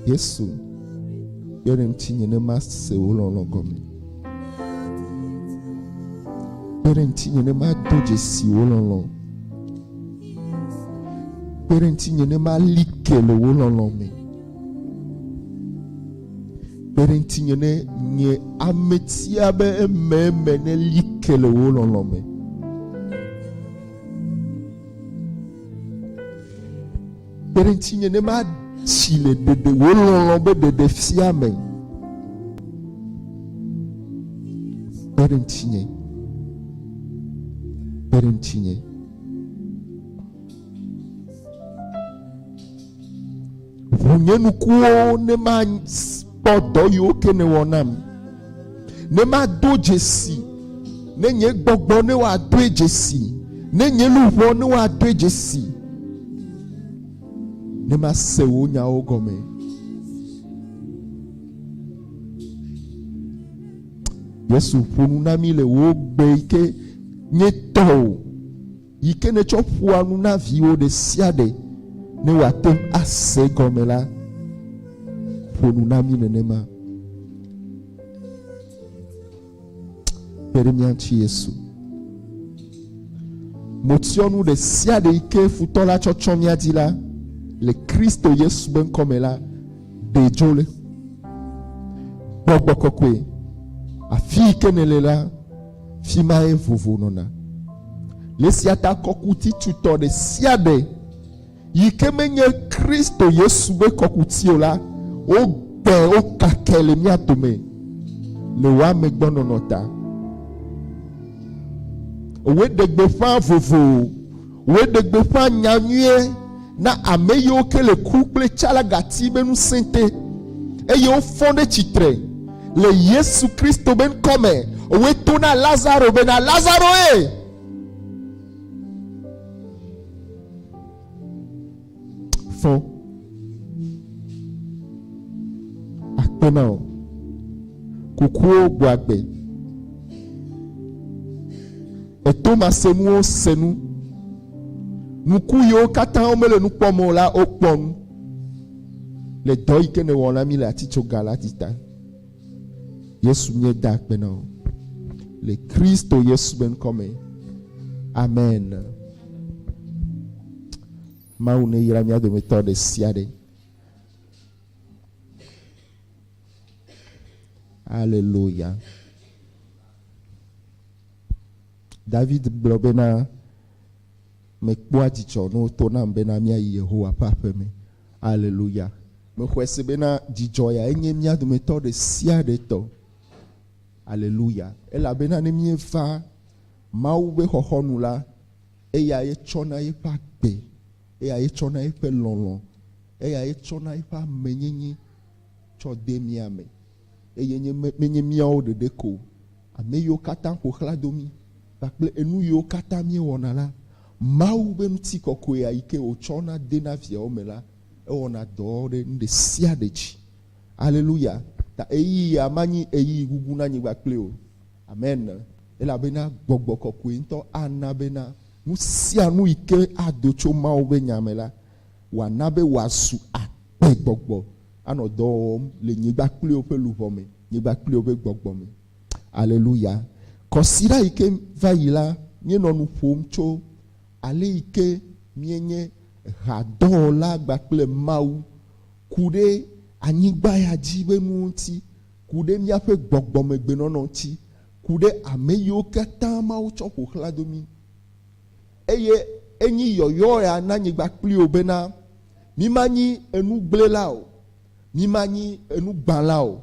Yesu, yɔ ɖem tsi nye ne mase wò lɔlɔ̃ gɔme. Yɔ ɖem tsi nye ne mado dzesi wò lɔlɔ̃. Yɔ ɖem tsi nye ne mali ke le wò lɔlɔ̃ me. Yɔ ɖem tsi nye ne nye ame tia be ememe ne li ke le wò lɔlɔ̃ me. Kpe ɖe ŋutinye ne matsi le ɖeɖe wò lɔlɔ̃ be ɖeɖe fia me. Kpe ɖe ŋutinye. Kpe ɖe ŋutinye. Ʋu nye nukuwo ne makpɔ dɔ yiwo ke nèwɔ nam. ne mado dzesi, ne nye gbɔgbɔ ne wòadoe dzesi, ne nye luʋɔ ne wòadoe dzesi, ne mase wò nyawo gɔme. Yesu ƒo nu na mi le wò gbe yi ke nye tɔ o. yi ke nètsɔ ƒoa nu na viwò ɖe sia ɖe ne wòate ŋu ase gɔme la, ƒo nu na mí nenema. Kpe ɖe mía ŋuti Yesu. Motsyɔnu ɖe sia ɖe yi ke futɔ la tsɔ tsɔ mía dzi la le Kristo Yesu be ŋkɔ me la ɖe dzo le gbɔgbɔ kɔkɔe afi yi ke nèle la Fi mae vovo nɔna. Le sia ta kɔkuti tutɔ ɖe sia ɖe yi ke menye Kristo Yesu ƒe kɔkuti o la, wogbɛ, wokakɛ le mía dome le wò amegbɔnɔnɔ ta. Wòɖe gbeƒã vovo. Wòe ɖe gbeƒã nya nyuie na ame yiwo ke le ku kple tsalagati be ŋusẽ te, eye wofɔ ɖe tsitre le Yesu Kristo be ŋkɔ me. Wòe to na Lazaro bena, Lazaro e! fɔ akpe na wò. Kukuwo gbɔ agbe. Èto masenuwo se nu. Ŋku yiwo katã womele nu kpɔm o la, wokpɔ nu le dɔ yi ke nèwɔ na mí le atitsoga la dzi ta. Yesu nye da akpe na wo le Kristo Yesu be ŋkɔ me. Amen. Mawu ne yra mía dometɔ ɖe sia ɖe. Aleluya. David gblɔ bena Mekpɔa dzidzɔ ne woto nam bena míayi Yehowa ƒe aƒe me. Aleluya! Mexɔe se bena dzidzɔ yae nye mía dometɔ ɖe sia ɖe tɔ. Aleluya! Elabena ne míeva Mawu ƒe xɔxɔnu la, eyae tsɔna yeƒe agbe, eyae tsɔna yeƒe lɔlɔ̃, eyae tsɔna yeƒe amenyenye tsɔ dea mía me. Eye nye me, menye míawo ɖeɖe ko o, ame yiwo katã ƒo xlã do mí kpakple enu yiwo katã míewɔna la, Mawu ƒe ŋutikɔkɔea yi ke wòtsɔ na de na viawo me la, ewɔna dɔ ɖe nu ɖe sia ɖe dzi. Aleluya! Ta ɣeyiɣi ya manyi ɣeyiɣi gugu na anyigba kple o. Amen. Elabena Gbɔgbɔ Kɔkɔe ŋutɔ ana bena nu sia nu yi ke ado tso Mawu ƒe Nya me la, wòana be wòazu agbegbɔgbɔ. anɔ dɔ wɔm le nyigba kpliwo ƒe luʋɔ me, nyigba kpliwo ƒe gbɔgbɔ me. Aleluya! Kɔsiɖa yi ke va yi la, míenɔ nu ƒom tso ale yi ke míenye hadɔwɔla gba kple Mawu ku ɖe anyigba ya dzi ƒe nuwo ŋuti, ku ɖe míaƒe gbɔgbɔmegbenɔnɔ ŋuti, ku ɖe ame yiwo katã Mawu tsɔ ƒo xlã do mí. Eye enyi yɔyɔea na nyigba kpli wo bena, Mimanyi enugblẽla o, mimanyi enugbãla o,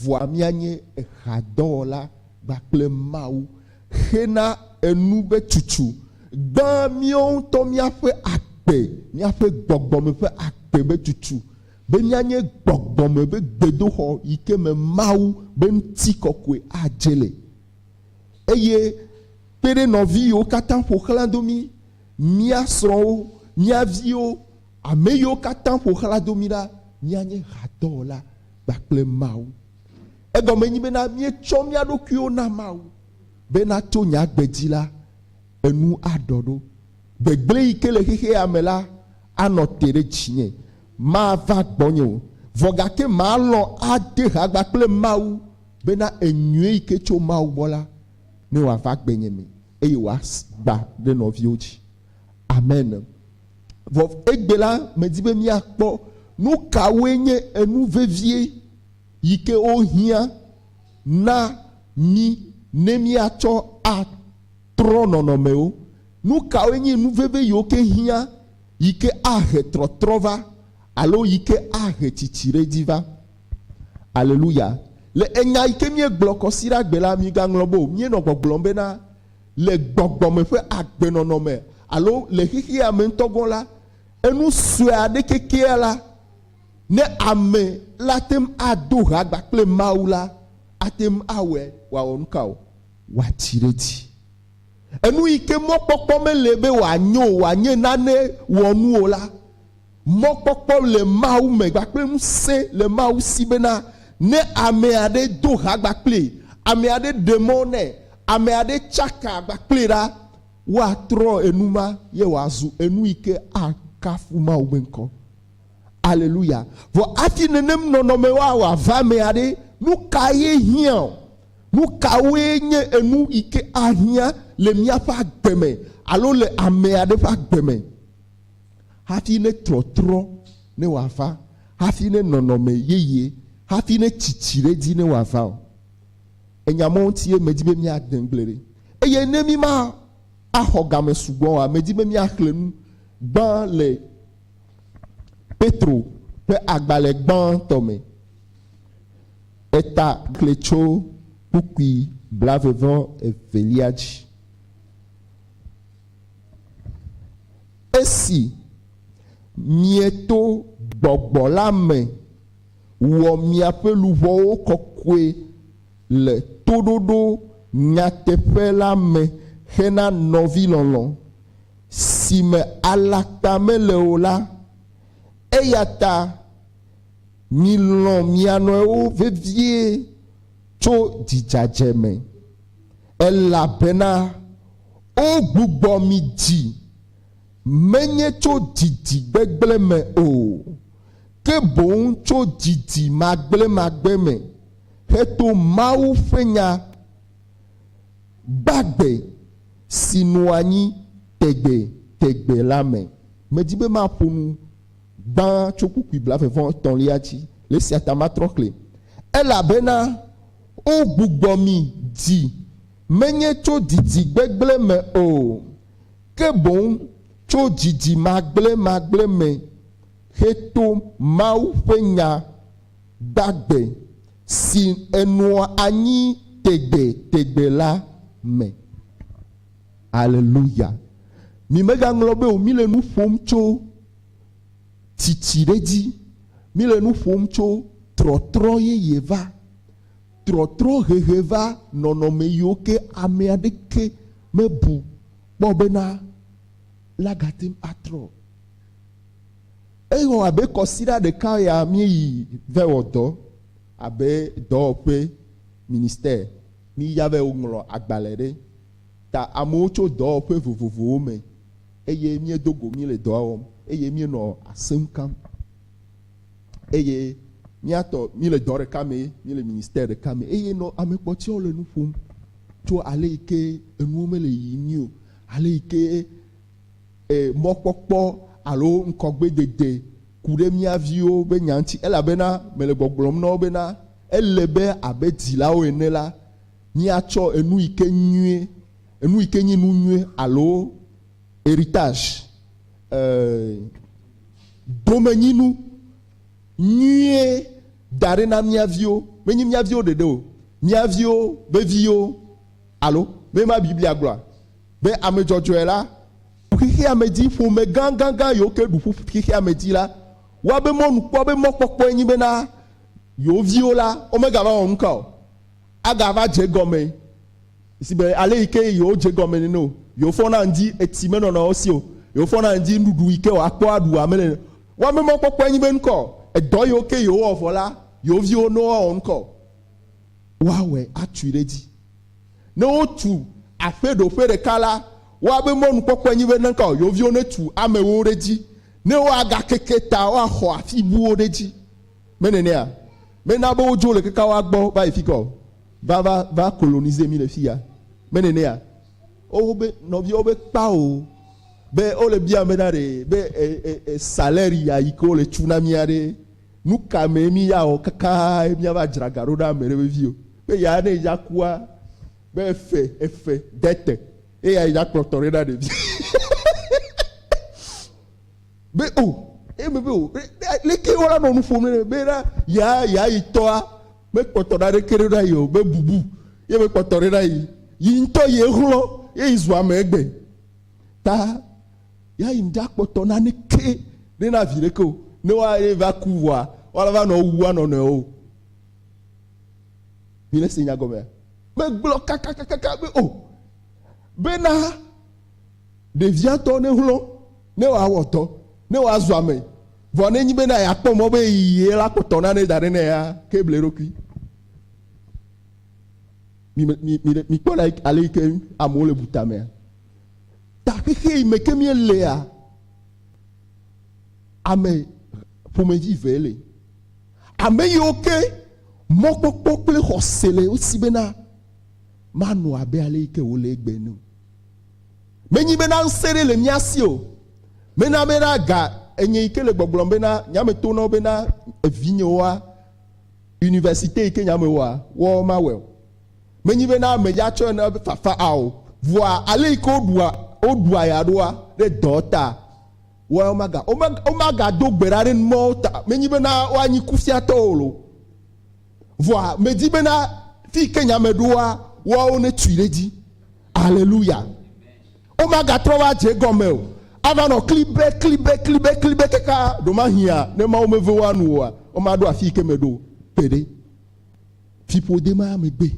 vɔa mianye ehadɔwɔla kpakple Mawu, hena enu be tsutsu, gbã míwo ŋutɔ míaƒe agbe, míaƒe gbɔgbɔme ƒe agbe be tsutsu, be míanye gbɔgbɔme be gbedoxɔ yi ke me Mawu be ŋutikɔkɔe adze le. eye kpe ɖe nɔvi yiwo katã ƒo xlã do mí, mía srɔ̃wo, mía viwo, ame yiwo katã ƒo xlã do mí ɖa, míanye hadɔwɔla kpakple Mawu. Egɔme nyi bena míetsɔ mía ɖokuiwo na Mawu bena to nye agbe dzi la, enu aɖɔ ɖo. Gbegblẽ yi ke le xexea me la anɔ te ɖe dzinye, mava gbɔnye o, vɔ gake malɔ̃ ade ha gbã kple Mawu. Bena enyuie yi ke tso Mawu gbɔ la ne wòava gbenye me eye wòagba ɖe nɔviwo dzi. Amen. Vɔ egbe la, medi be míakpɔ nu kawoe nye enu vevie yi ke wohiã na mí ne míatsɔ atrɔ nɔnɔmewo. Nu kawoe nye nu veve yiwo ke hiã yi ke ahe trɔtrɔ va alo yi ke ahe tsitsiɖedzi va? Aleluya! Le enya yi ke míegblɔ kɔsiɖa gbe la, migaŋlɔ be o, míenɔ gbɔgblɔm bena, le gbɔgbɔ me ƒe agbenɔnɔ me alo le xexea me ŋutɔ gɔ̃ la, enu sue aɖe kekeɛ la, ne ame la ate ŋu ado ha agba kple Mawu la, ate ŋu awɔe wòawɔ nu ka o? Wòatsi ɖe edzi. Enu yi ke mɔkpɔkpɔ mele be wòanyo o, wòanye nane wɔnu o la, Mɔkpɔkpɔ le Mawu me kpakple ŋusẽ le Mawu si bena ne ame aɖe do ha kpakplii, ame aɖe ɖe mɔ nɛ, ame aɖe tsaka kpakplii ɖa, woatrɔ enu ma ye wòazu enu yi ke akafu Mawu ƒe ŋkɔ. Aleluya! Vɔ hafi nenem nɔnɔme woawɔ ava emea ɖe, nu kae hiã? Nu kawoe nye enu yi ke ahiã le míaƒe agbe me alo le ame aɖe ƒe agbe me? hafi ne trɔtrɔ ne wòava, hafi ne nɔnɔme yeye, hafi ne tsitsi ɖe edzi ne wòava o. Enya mawo ŋutie medi be míade ŋugble ɖi. Eye ne míma axɔ game sugbɔ oa, medi be míaxlẽ nu gbã le Petro ƒe agbalẽ gbãtɔ me. Eta xlẽ tso kpukpui blavevɔ evelia dzi. Esi mieto Gbɔgbɔ la me wɔ miaƒe luʋɔwo kɔkɔe le toɖoɖo nyateƒe la me hena nɔvilɔlɔ̃, si me alakpa mele o la, eyata milɔ̃ mia nɔewo vevie tso dzidzadze me. Elabena wogbugbɔ mi dzi, menye tso didi gbegblẽ me o, ke boŋ tso didi magblẽmagblẽ me, heto Mawu ƒe nya gbagbe si nɔ anyi tegbetegbe la me. Medi be maƒo nu gbã tso kpukpui blaeve-vɔ-etɔ̃lia dzi, le esia ta matrɔ xlẽe. Elabena Wogbugbɔ mi dzi, menye tso didi gbegblẽ me o, ke boŋ tso didi magblẽmagblẽ me heto Mawu ƒe Nya gbagbe, si enɔa anyi tegbetegbe la me. Aleluya! Mimegaŋlɔ be o, mile nu ƒom tso. tsitsi ɖe edzi. Míle nu ƒom tso trɔtrɔ yeye va, trɔtrɔ hehe va nɔnɔme yiwo ke ame aɖeke mebu kpɔ bena la gate ŋu atrɔ o. Ewɔ abe kɔsiɖa ɖeka ya míeyi vɛ wɔ dɔ abe dɔwɔƒe, ministère, míya vɛ ŋlɔ agbalẽ ɖe ta amewo tso dɔwɔƒe vovovowo me. eye míedo go míele dɔa wɔm eye míenɔ asem kam eye mía tɔ míele dɔ ɖeka me, míele ministère ɖeka me eye nɔ ame kpɔtɔewo le nu ƒom tso ale yi ke enuwo mele yiyim nyuie o, ale yi ke e, mɔkpɔkpɔ alo ŋkɔgbedede ku ɖe mía viwo be nya ŋuti, elabena mele gbɔgblɔm na wo bena ele be abe dzilawo ene la, míatsɔ enu yi ke nyuie Enu yi ke nyi nu nyui alo heritage, domenyinu nyuie da ɖi na mía viwo. Menye mía viwo ɖeɖe o, mía viwo ƒe viwo. Alo, menye ema Biblia gblɔa? Be ame dzɔdzɔe la, xexeamedzi, ƒome gãgãgã yiwo ke ɖu ƒu xexeamedzi la, woa be mɔnukpɔa be mɔkpɔkpɔe nyi bena yewo viwo la, womegava wɔ nuka o. agava dze egɔme si be ale yi ke yewodze egɔme nene o. Yewofɔna ŋdi etsi menɔna wo si o. Yewofɔna ŋdi nuɖuɖu yi ke woakpɔ aɖu ame nene. Woame mɔkpɔkpɔe nyi be ŋkɔ edɔ yiwo ke yewowɔ vɔ la, yewo viwo ne woawɔ ŋkɔ woawɔe atui ɖe edzi. Ne wotu aƒe ɖo ƒe ɖeka la, woabe mɔnukpɔkpɔe nyi be ŋkɔ yewo viwo netu amewo ɖe edzi ne woagakeke ta woaxɔ afi buwo ɖe edzi. Mene nɛa? Mena be wodzo le kekawa gbɔ va yi fikɔ o. Va, va, va coloniser mi le fiya. Mene nɛa? O, wobe, nɔviawo be kpa o. Be wole bia be na ɖe, be e, e, e, salaire ya yi ke wole tsu na mia ɖe, nu ka me mi ya wɔ kakaaa mia va dzra ga ɖo na ame ɖe vevi o. Be ya ne edza kua, be efe, efe, dete, eya edza kplɔtɔ ɖe na ɖevi. Be o, eye me be o, be leke wola nɔ nu ƒom ne be na ya ya yi tɔa me kpɔtɔ ɖa ɖeke ɖe na yi o, be bubu ye me kpɔtɔ ɖe na yi, yi ŋutɔ yi exlɔ ye yi zu ame egbe. Ta ya yi ŋɖa kpɔtɔ na neke ɖe na vi ɖeke o, ne wa ye va ku vɔa wa va nɔ wu wa nɔ nɔe o. Mi le se nya gɔmea? Me gblɔ kakakakaka be o, be na. Ɖevia tɔ nehlɔ̃, ne wòawɔ dɔ, ne wòazu ame. Vɔ nenye bena yeakpɔ mɔ be ye la kpɔtɔ nane da ɖɛ nɛ ya, ke ble eɖokui. Mikpɔ ɖa ale yi ke amewo le bu tamea. Ta xexe yi me ke míelea, ame ƒomevi eve le. Ame yiwo ke mɔkpɔkpɔ kple xɔse le wo si bena manɔ abe ale yi ke wòle egbe ene o. Menyi bena ŋsẽ ɖe le mía si o. Mena bena ga enye yi ke le gbɔgblɔm bena nye ame to nawo bena evinyewoa universite yi ke nye ame wɔa, woawo mawɔe o. Menyi bena ame ya tsɔe na be fafa a o. Vɔa ale yi ke woɖua, woɖua ya ɖoa ɖe dɔ ta, woawo maga, wome, womagado gbe ɖa ɖe numɔwo ta. Menyi bena woanyi kufiatɔwo o. Vɔa medi bena fi ke nya me ɖoa, woawo netui ɖe dzi. Aleluya. Womagatrɔ va dze gɔme o. Ava nɔ klibe, klibe, klibe, klibe kaka ɖomahia ne Mawu meve woa nu oa, womaɖo afi ke meɖo gbeɖe. Fiƒode ma megbe.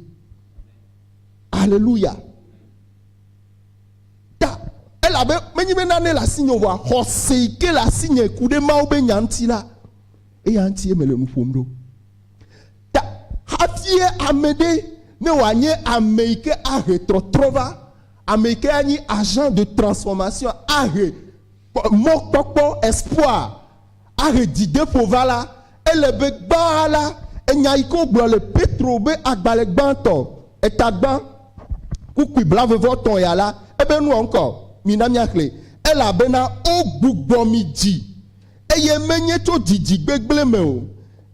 Aleluya. Ta elabe menye be nane le asinye o, vɔa xɔse yi ke le asinye ku ɖe Mawu be nya ŋuti la, Eya ŋutie mele nu ƒom ɖo. Ta hafie ame ɖe ne wòanye ame yi ke ahe trɔtrɔ va, ame yi ke anyi agent de transformation, ahe mɔkpɔkpɔ, espoir, ahe dzideƒo va la, ele be gbã la, enya yi ke wogblɔ le Petro be agbalẽ gbãtɔ, eta gbã, kukui blavevɔtɔ̃ ya la, ebe nuɔ ŋkɔ. Mina míaxlẽe. Elabena wogbugbɔ mi dzi eye menye tso didi gbegblẽ me o,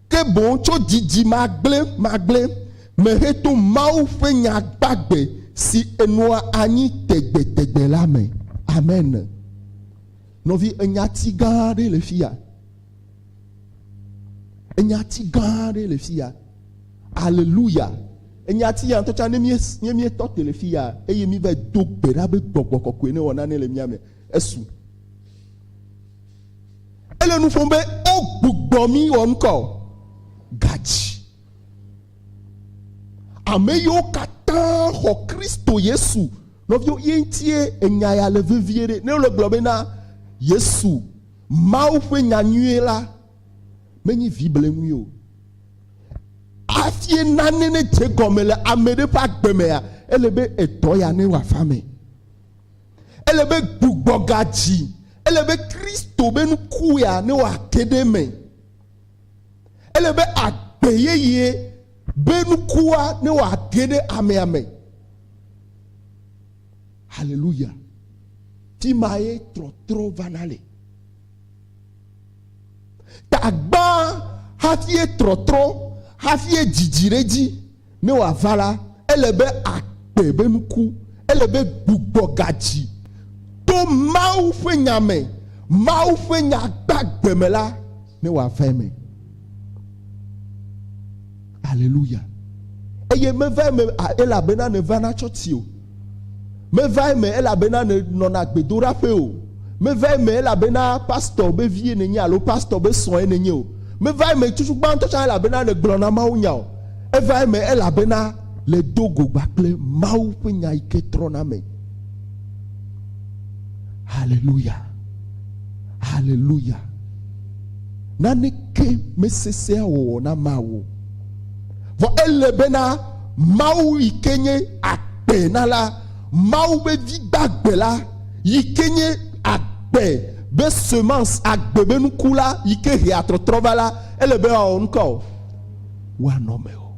ke boŋ tso didi magblẽmagblẽ me heto Mawu ƒe nya gbagbe si enɔa anyi tegbetegbe la me. Amen. Nɔvi, enyati gã aɖe le fi ya. Enyati gã aɖe le fi ya. Aleluya. Enyati ya ŋutɔ tsã ne míetɔ te le fi ya eye míva do gbe ɖa be gbɔgbɔ kɔkɔe ne wɔ nane le mía me, esu. Ele nu ƒom be wogbugbɔ mí wɔ ŋkɔ o. Gadzi. Ame yiwo katã xɔ Kristo Yesu, nɔviwo, ye ŋutie enya ya le vevie ɖe. Ne wole gblɔ be na Yesu, Mawu ƒe nya nyuie la, menye vi bleŋui o. Hafi nane nedze gɔme le ame ɖe ƒe agbe mea, ele be edɔ ya ne wòava eme. Ele be gbugbɔ ga dzi. Ele be Kristo be nukua ne wòa te ɖe eme. Ele be agbe yeye be nukua ne wòa te ɖe amea me. Haleluya. Fi ma ye trɔtrɔ vana le. Tagbã hafi ye trɔtrɔ hafi ye dzidzi ɖe dzi. Ne wòava la, ele be akpɔe be nuku. Ele be gbugbɔ gadzi. To Mawu ƒe Nya me, Mawu ƒe Nya gbagbe me la, ne wòava eme. Aleluya! Eye meva eme elabena nèva na tsɔti o. Meva eme elabena nènɔna gbedoɖaƒee o. Meva eme elabena pastor be vie nènye alo pastor be srɔ̃e nènye o. Meva eme tutu gbãtɔ tsã elabena nègblɔna mawunya o. Eva eme elabena le do go gba kple Mawu ƒe nya yi ke trɔna me. Haleluya! Haleluya! Naneke mesesẽa wɔwɔ na Mawu o. Vɔ ele bena Mawu yike nye agbe na la, Mawu be vi gbagbe la, yike nye agbe be semence, agbe be nuku la, yike hea trɔtrɔ va la, ele be woawɔ nuka o? Woanɔ me o.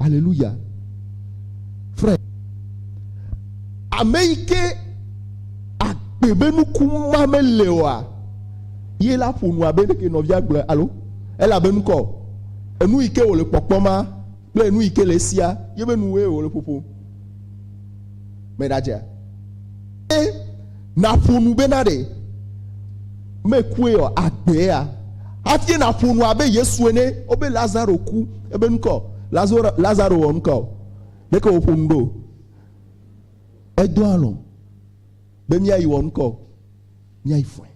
Aleluya. Frère, ame yike agbe be nuku ma mele oa, Ye la ƒo nu abe ɖeke nɔvia gblɔe alo elabe ŋkɔ o. Enu yi ke wòle kpɔkpɔ ma kple nu yi ke le esia ye be nuwoe wòle ƒoƒom me ɖadzea? Ye nàƒo nu bena ɖe mekue o agbea? Hafi nàƒo nu abe Yesu ene o be Lazaro ku ebe ŋkɔ o. Lazaro, Lazaro wɔ ŋkɔ o. Ɖeke wòƒo nu ɖo o. Edo alɔ̃ be míayi wɔ ŋkɔ o. Nyae fɔe.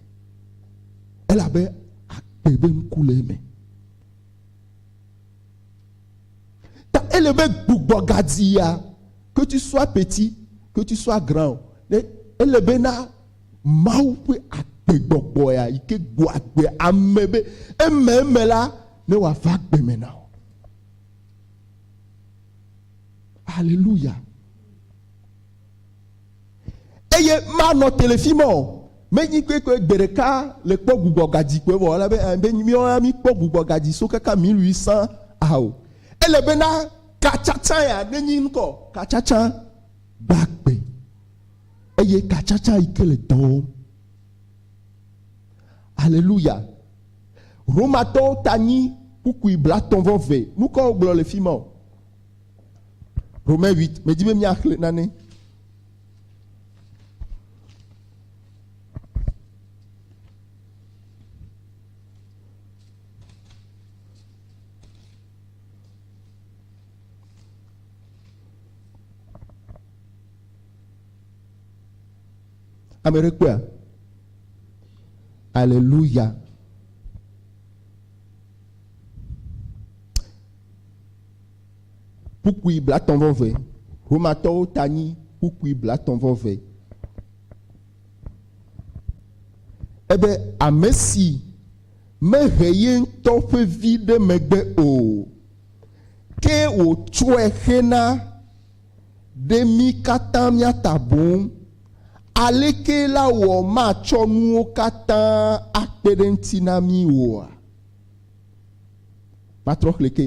Elabe akpɔe be nuku le eme. Ta ele be gbugbɔ gadzi ya, que tu sois petit, que tu sois grand, ne ele be na Mawu ƒe agbegbɔgbɔ ya yi ke gbɔ agbe ame be eme eme la ne wòava agbe me na wò. Alléluia. Eye manɔ telefim o. Menyi kpekpe gbe ɖeka le kpɔ gbugbɔ gadzi kpɔe vɔ ale be be nyi míawo ya mí kpɔ gbugbɔ gadzi so kaka mí lui sã a o. Ele be na ka tsatsa ya ne nyi ŋkɔ? Ka tsatsa gbagbe eye ka tsatsa yi ke le dɔ wɔm. Aleluya. Romatɔwo ta nyi kpukpui blatɔ̃ vɔ ve. Nukɔ wogblɔ le fima o. Romain 8, medzi be míaxlẽ nane. Ame ɖe kpɔa? Aleluya. Kpukpui blatɔ̃ vɔ ve. Romatɔwo ta nyi kpukpui blatɔ̃ vɔ ve. Ebe amesi mehe yeŋtɔ ƒe vi ɖe megbe o, ke wòtsɔe xe na ɖe mí katã mía ta boŋ. Alekee la wɔ matsɔ nuwo katã akpe ɖe eŋuti na mí oa? Matrɔ xlẽ ke.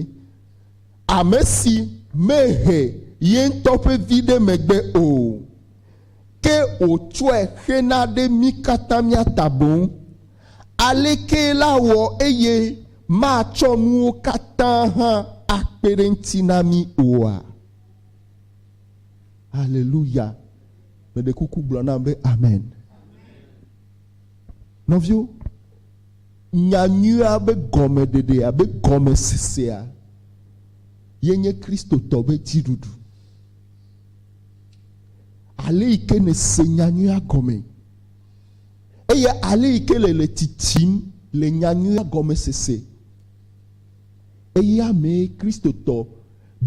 Ame si mehe ye ŋutɔ ƒe vi ɖe megbe o, ke wòtsɔe xe na ɖe mí katã mía ta boŋ. Alekee la wɔ eye matsɔ nuwo katã hã akpe ɖe eŋuti na mí oa? Aleluya! Meɖe kuku gblɔ nam be amen. Nɔviwo. Nyanyuia be gɔmeɖeɖe abe gɔmesesea ye nye Kristotɔ ƒe dziɖuɖu. Ale yi ke nèse nyanyuia gɔme eye ale yi ke le le tsitsim le nyanyuia gɔmesese eya mee Kristotɔ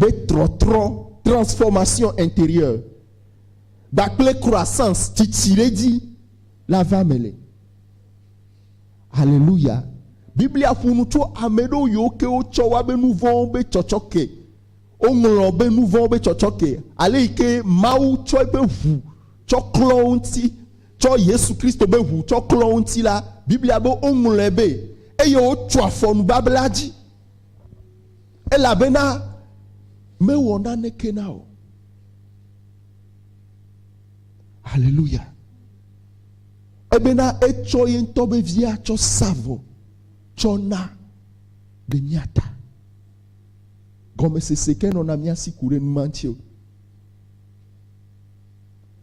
ƒe trɔtrɔ, transformation interieure, kpakple croissance, tsitsi ɖe edzi, la va me le. Haleluya! Biblia ƒo nu tso ame ɖewo yiwo ke wotsɔ woa be nu vɔ̃wo be tsɔtsɔke. Woŋlɔ be nu vɔ̃wo be tsɔtsɔke, ale yi ke Mawu tsɔ eƒe ŋu tsɔ klɔ wo ŋuti, tsɔ Yesu Kristo be ŋu tsɔ klɔ wo ŋuti la, Biblia be woŋlɔe be, eye wotso afɔ nubabla dzi, elabena mewɔ naneke na wò. Haleluya! Ebena etsɔ ye ŋutɔ ƒe via tsɔ sa vɔ tsɔ na ɖe mía ta. Gɔmesese ke nɔna mía si ku ɖe nu ma ŋuti o.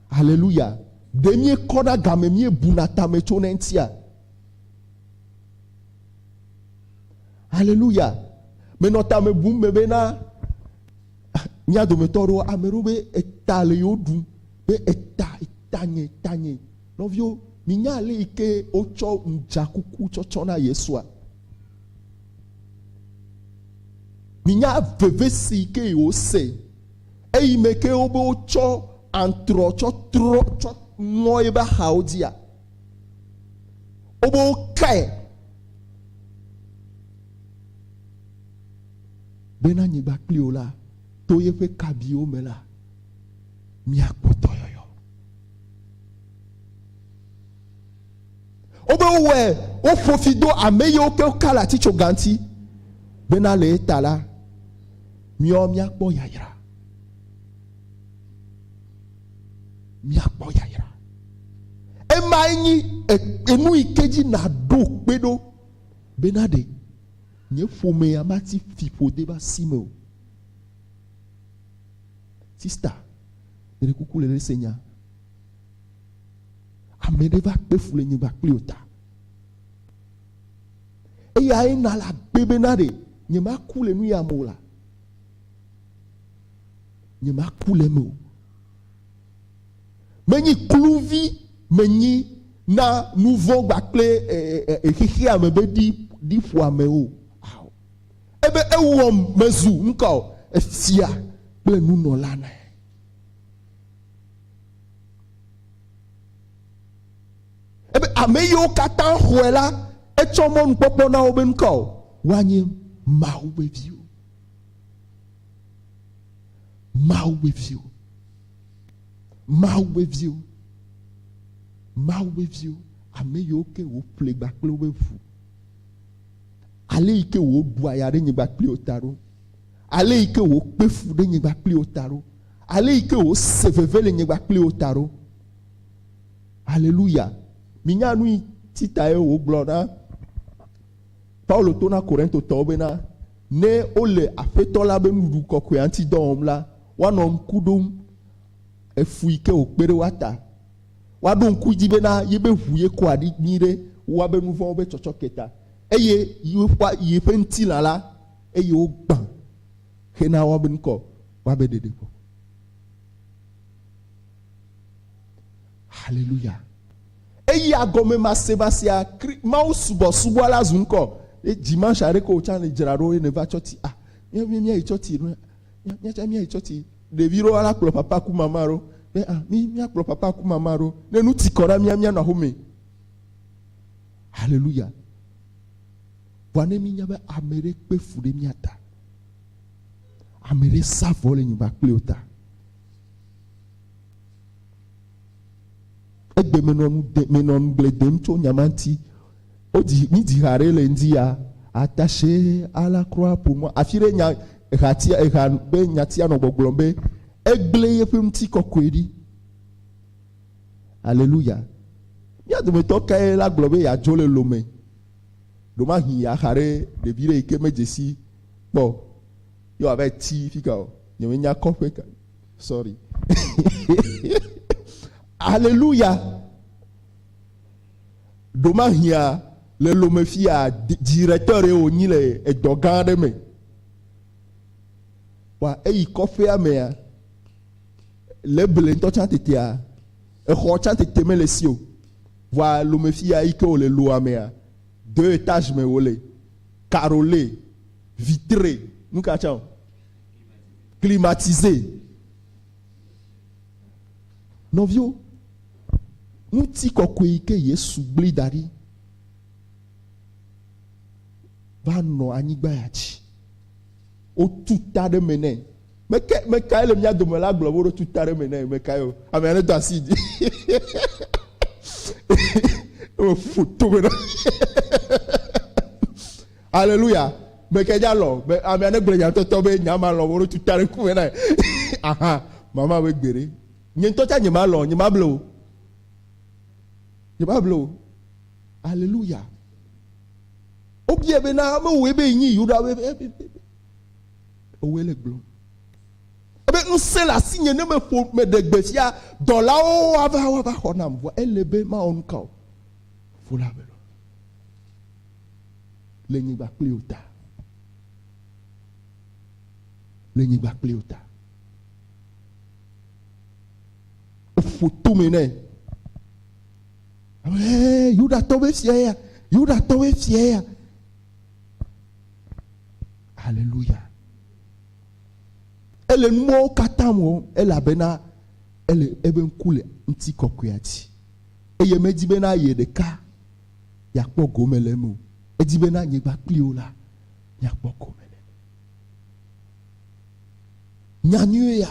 Haleluya! Ɖe míekɔna game, míebuna tame tso na eŋutia? Haleluya! Menɔ tame bum me bena Mía dometɔ aɖewo, ame aɖewo be eta le yewo ɖum be eta, eta nye, eta nye. Nɔviwo, minya ale yi ke wotsɔ ŋdzakuku tsɔtsɔ na Yesua? Minya veve si yi ke wose eyi me ke wobe wotsɔ antrɔ tsɔ trɔ tsɔ ŋɔ eƒe axawo dzia? Wobe wokae ɖe na nyigba kpli wò la, to yeƒe kabiwo me la, miakpɔ dɔyɔyɔ. Wobe wowɔe woƒo fi do ame yiwo ke woka le atitsoga ŋuti, bena le eta la, miɔ miakpɔ yayra. Miakpɔ yayra. Emae nyi enu yi ke dzi nàɖo kpe ɖo bena ɖe Nye ƒomea mati fiƒode va si me o. Sista, meɖe kuku le ɖe se nya. Ame ɖe va kpe fu le nye va kpli o ta. Eya ye na la be be na ɖe nye ma ku le nu ya me o la. Nye ma ku le me o. Menyi kluvi menyi na nuvɔ̃ kpakple xexea me be ɖiƒoame o. Ebe ewɔm mezu nuka o? Efia kple nunɔla na. Ebe ame yiwo katã xɔe la, etsɔ mɔnukpɔkpɔ na wo be nuka o? Woanye Mawu ƒe viwo. Mawu ƒe viwo. Mawu ƒe viwo. Mawu ƒe viwo. Ame yiwo ke wòƒle gba kple woƒe ʋu. Ale yi ke wòɖua ya ɖe nyigba kpli wo ta ɖo. Ale yi ke wòkpe fu ɖe nyigba kpli wo ta ɖo. Ale yi ke wòse veve le nyigba kpli wo ta ɖo. Aleluya. Minya nu yi ti tae wògblɔ na Paulo to na Korintotɔwo bena, Ne wole Aƒetɔ la be Nuɖuɖu Kɔkɔea ŋuti dɔ wɔm la, woanɔ ŋku ɖom efu yi ke wòkpe ɖe woa ta. Woaɖo ŋku edzi bena yebe ʋu ye kɔa ɖi nyuiɖe wu woabe nu vɔ̃wo be tsɔtsɔke ta, eye woƒã yeƒe ŋutilã la, eye wogbã hena woabe nu kɔ woabe ɖeɖekpɔkpɔ. Haleluya! Eya gɔmemasemasea, Kri, Mawu subɔsubɔ la zu ŋkɔ. Ye dimanche aɖe ko wòtsã le dzra ɖo ye ne va tsɔti. Ah, mía mía mía yi tsɔti ɖo. Mía tsã mía yi tsɔti. Ɖevi ɖo ala kplɔ papa ku mama ɖo. Be ah, mí mía kplɔ papa ku mama ɖo. Ne nu ti kɔ ɖa mía mía nɔ axome. Haleluya! Vɔa ne mí nya be ame ɖe kpe fu ɖe mía ta, ame ɖe sa vɔ le nyigba kple wò ta. egbe menɔ nu de menɔ nu gble dem tso nya ma ŋuti wodzi mi dzi ha ɖe le ŋdi ya atashe ala kura ƒomɔ afi ɖe nya ehatia eha be nyatia nɔ gbɔgblɔm be egble yeƒe ŋuti kɔkɔe ɖi aleluya mía dometɔ kae la gblɔ be yeadzo le lome ɖomahi yeaxa ɖe ɖevi ɖe yi ke medzesi kpɔ ye wòava ti fika o nyemenya kɔƒe ka Sorry. Aleluya. Ɖomahia le lome fia directeur ɖe wònyi le edɔ gã aɖe me. Wa eyi kɔƒea mea le ble ŋutɔ tsã tetea exɔ tsã tete mele si o. Wa lome fia yi ke wòle loa mea deux étages me wòle. Carole, vitre, nu ka tsã o. Climatisé. Nɔviwo, ŋuti kɔkɔe yi ke Yesu gbli da ɖi va nɔ anyigba ya dzi. Wotu ta ɖe me nɛ. Meke mekae le mía dome la gblɔ be woɖo tu ta ɖe me nɛ mekae o. Ame aɖe do asi dzi. Eƒo tome na. Aleluya! Me ke nya lɔ be ame aɖe gblɔ nyatɔtɔ be nya ma lɔ wo ɖo tu ta ɖe ŋkume na aha mama be gbeɖe. Nye ŋutɔ tsa nye ma lɔ nye ma ble o. Nye ma ble o. Aleluya! Wobia be na ame woe be nyi Yuda be ewoe le gblɔ. Ebe ŋusẽ le asi nye ne me ƒo me ɖe gbe sia dɔlawo wava wava xɔ nam vɔ ele be ma ɔnu kao. Fula be. le nyigba kpli o ta. Le nyigba kpli o ta. Eƒo tome nɛ. Ɛɛ, Yudatɔwoe fia ya. Yudatɔwoe fia ya. Haleluya. Ele numɔwo katã wɔ elabena ele ebe ŋku le ŋuti kɔkɔea dzi. Eye medi bena ye ɖeka miakpɔ gome le eme o. Edi be ne anyigba kpli wo la, miakpɔ gome le eme. Nya nyuie ya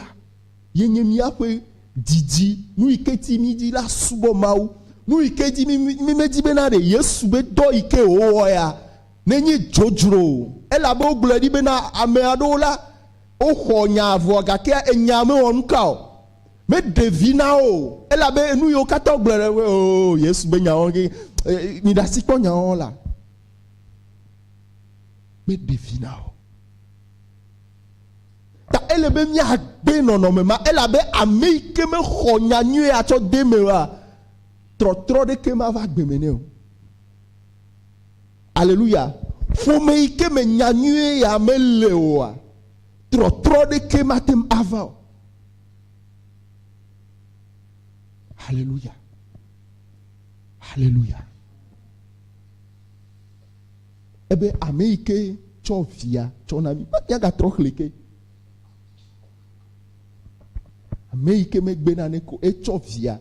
ye nye míaƒe didi, nu yi ke di mídi la subɔ Mawu. Nu yi ke di mí medi be na ɖe Yesu be dɔ yi ke wòwɔ ya nenye dzodzro o. Elabe wogblɔe ɖi be na ame aɖewo la, woxɔ nya vɔ gakea enya mewɔ nuka o. Meɖe vi na wo o, elabe nu yiwo katã wogblɔ ɖe eŋu, oo, Yesu be nyawo ke, e, miɖe asi kpɔ nyawo la. Meɖe vi na wo. Ta ele be míagbe nɔnɔme ma, elabe ame yi ke mexɔ nya nyuie atsɔ de me oa, trɔtrɔ ɖeke mava gbe me nɛ o. Aleluya. Ƒome yi ke me nya nyuie ya mele oa, Trɔtrɔ ɖekee mate ŋu ava o. Haleluya. Haleluya. Ebe ame yi ke tsɔ via tsɔ na mi, míagatrɔ xlẽ ke. Ame yi ke megbe nane ko etsɔ via.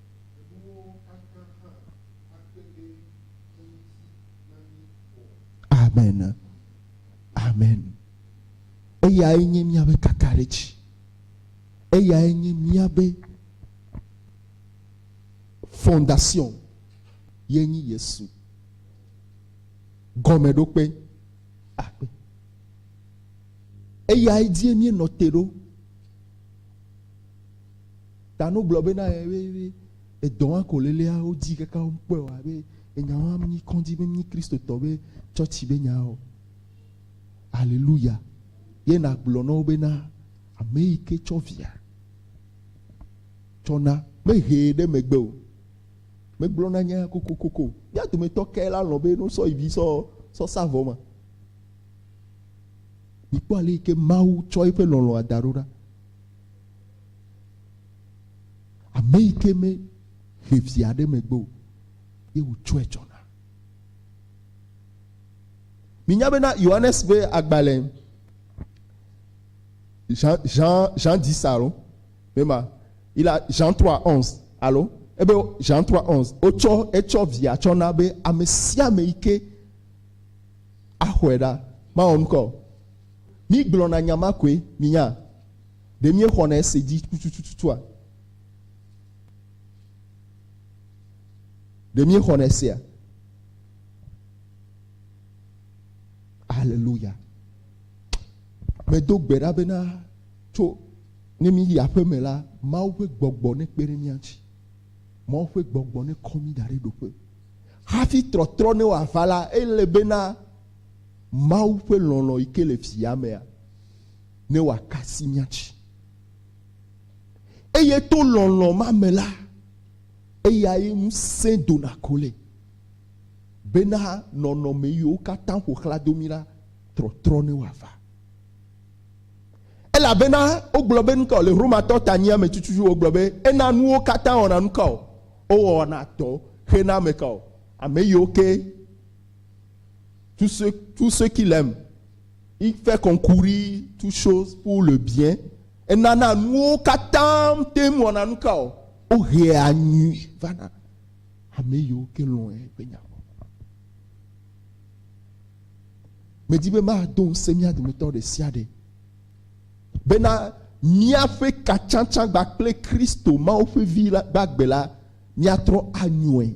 Amen. Amen. Eyae nye míaƒe kakaɖedzi. Eyae nye míaƒe fondation ye nyi Yesu. Gɔmeɖokpe akpe. Eyae dzie míenɔ te ɖo. Tanu gblɔ be na ye be, be edɔ wa ko lelea wodzi kaka wokpɔe wa be enya wa nyi kɔdzi be nyi Kristotɔ be tsɔtsi be nya o. Aleluya. Ye nagblɔ na wo be na ame yi ke tsɔ via tsɔ na mehee ɖe megbe o. Megblɔ na nya kokokoko. Mía dometɔ kae la lɔ̃ be no sɔ yi vi sɔ sɔ sa vɔ ma? Mikpɔ ale yi ke Mawu tsɔ eƒe lɔlɔ̃a da ɖo ɖa. Ame yi ke me he via ɖe megbe o ye wòtsɔe tsɔ na. Minya bena Yohanes ƒe agbalẽ Jean, Jean, Jean 10 alo mema il a Jean 3 11 alo ebe Jean 3 11 wotsɔ etsɔ via tsɔ na be ame sia ame yi ke axɔe ɖa mawɔ nukɔ. Mígblɔna nya ma koe minya. Ɖe míexɔna ese dzi tutututua? Ɖe míexɔna esea? Aleluya. Medo gbe ɖa bena tso ne míyi aƒe me la, Mawu ƒe gbɔgbɔ nekpe ɖe mía ŋuti. Mawu ƒe gbɔgbɔ nekɔ mí da ɖe ɖoƒe. Hafi trɔtrɔ ne wòava la, ele bena Mawu ƒe lɔlɔ̃ yi ke le fiamea ne wòaka asi mía dzi. Eye to lɔlɔ̃ ma me la, eyae ŋusẽ dona kolɛ bena nɔnɔme yiwo katã ƒo xlã do mí la trɔtrɔ ne wòava. Elabena wogblɔ be nukao le Romatɔ tanyia me tututu wogblɔ be ena nuwo katã wɔna nukao wowɔna tɔ xena ame kao ame yiwo ke tu sue tu sue ki lem. Il fait concourir toutes choses pour le bien, enana nuwo katã teŋ wɔna nuka o? Wohea nyui vana ame yiwo ke lɔ̃e ƒe nya gbɔ. Medi be mado ŋusẽ mía dometɔ ɖe sia ɖe bena míaƒe katsatsagba kple Kristo, Mawu ƒe Vi la gbagbe la, míatrɔ anyɔe.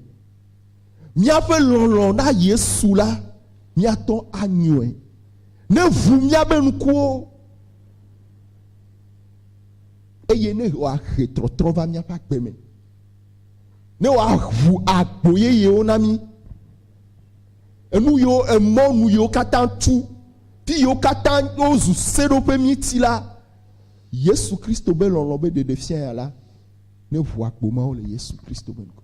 míaƒe lɔlɔ̃ na Yesu la, míatɔ anyɔe. Ne ʋu míaƒe ŋkuwo, eye ne wòahe trɔtrɔ va míaƒe agbe me, ne wòaʋu agbo yeyewo na mí, enu yiwo emɔ nu yiwo katã tu, ti yiwo katã wozu seɖoƒe míeti la, Yesu Kristo be lɔlɔ̃ be ɖeɖefia ya la, ne ʋu agbo mawo le Yesu Kristo be ŋkɔ.